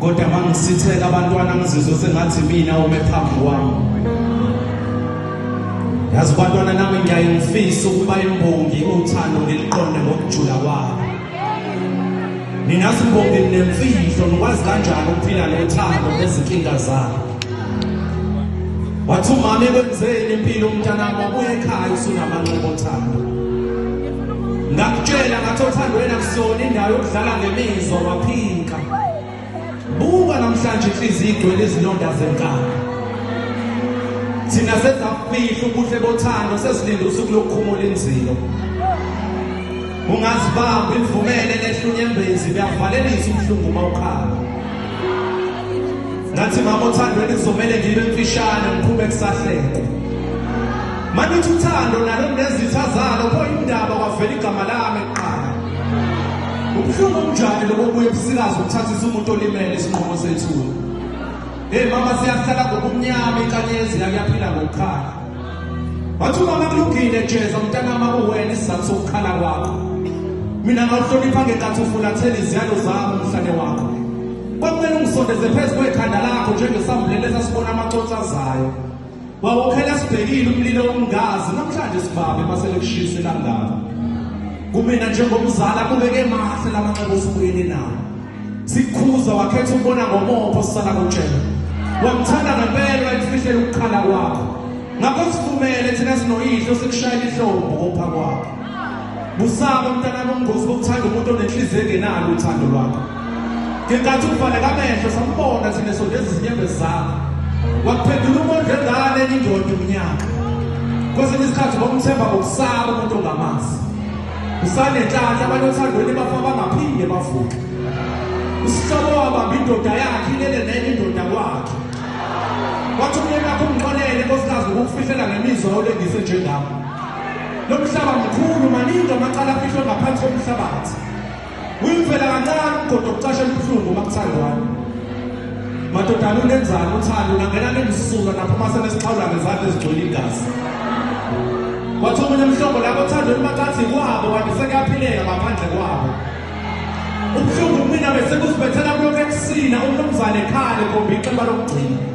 kodwa mangisitheka abantwana ngizizwe sengathi mina ume phambi kwami yazi bantwana nami ngiyaye ngifise ukuba imbongi uthando ngiliqonde ngokujula kwabo nina simbongi nemfihlo nikwazi kanjani ukuphila nothando nezinkinga zabo wathi umama ekwenzeni impilo umntanami wabuya ekhaya usunamanxeba othando ngakutshela ngathi othando wena kusona indawo yokudlala ngemizwa waphinka buka namhlanje inhliziyo igcwele izilonda zenkaba thina sezafihla ubuhle bothando sezilinde usuku lokukhumula inzilo ungazibamba imvumele lehlunyembezi kuyavalelisa ubuhlungu uma ukhala ngathi mama othandweni kuzomele ngibe mfishane ngiqhube kusahlekwa Manje uthi uthando nalo nezitha zalo pho indaba kwavela igama lami kuqala. Ubuhlungu omjani lobo buye busikazi ukuthathisa umuntu olimele isinqumo sethu. Hey mama siyahlala ngobumnyama inkanyezi yakuyaphila ngokukhala. Wathi umama kulungile jeza mntanami akuwena isizathu sokukhala kwakho. Mina ngawuhlonipha ngenkathi ufulathela iziyalo zami umhlane wakho. Kwakumele ungisondeze phezu kwekhanda lakho njengesambulelo esasibona amaconsa zayo. Wawuphela sibhekile umlilo ongazi namhlanje sibabe masele kushise kangaka. Kumina njengomzala kubeke mahle lamanxeba osibuyele nawo. Sikhuza wakhetha ukubona ngomopho sisala kutshela. Wamthanda ngempela wayifihlela ukukhala kwakho. Ngakho sivumele thina sinoyihlo sikushayela ihlombo kopha kwakho. Busaba mntanami umngozi bokuthanda umuntu onenhliziyo engenalo uthando lwakho. Ngenkathi uvaleka amehlo sambona thina sondeza izinyembezi zakho. Wakuphendula umondle ngane enye indoda umnyaka. Kwesinye isikhathi ngokumthemba ngokusaba umuntu ongamazi. Usanenhlanhla abantu othandweni bafa bangaphinde bavuke. Usihlobo wabamba indoda yakhe ilele nenye indoda kwakhe. Wathi umyeni wakho umxolele nkosikazi ngokufihlela ngemizwa olengise njengami. Lo mhlaba mkhulu maningi amacala afihlwe ngaphansi komhlabathi. Uyimfela kancane kodwa kucasha emhlungu makuthandwana. Madodana unenzani uthando nangena nemsuka naphuma senesixhawula ngezandla ezigcwele igazi. Wathi omunye umhlobo labo thando limacathi kwabo kanti sekuyaphileka ngaphandle kwabo. Ubuhlungu kumina bese kusibethela kulokhu ekusina umnumzane ekhale kombi iqemba lokugcina.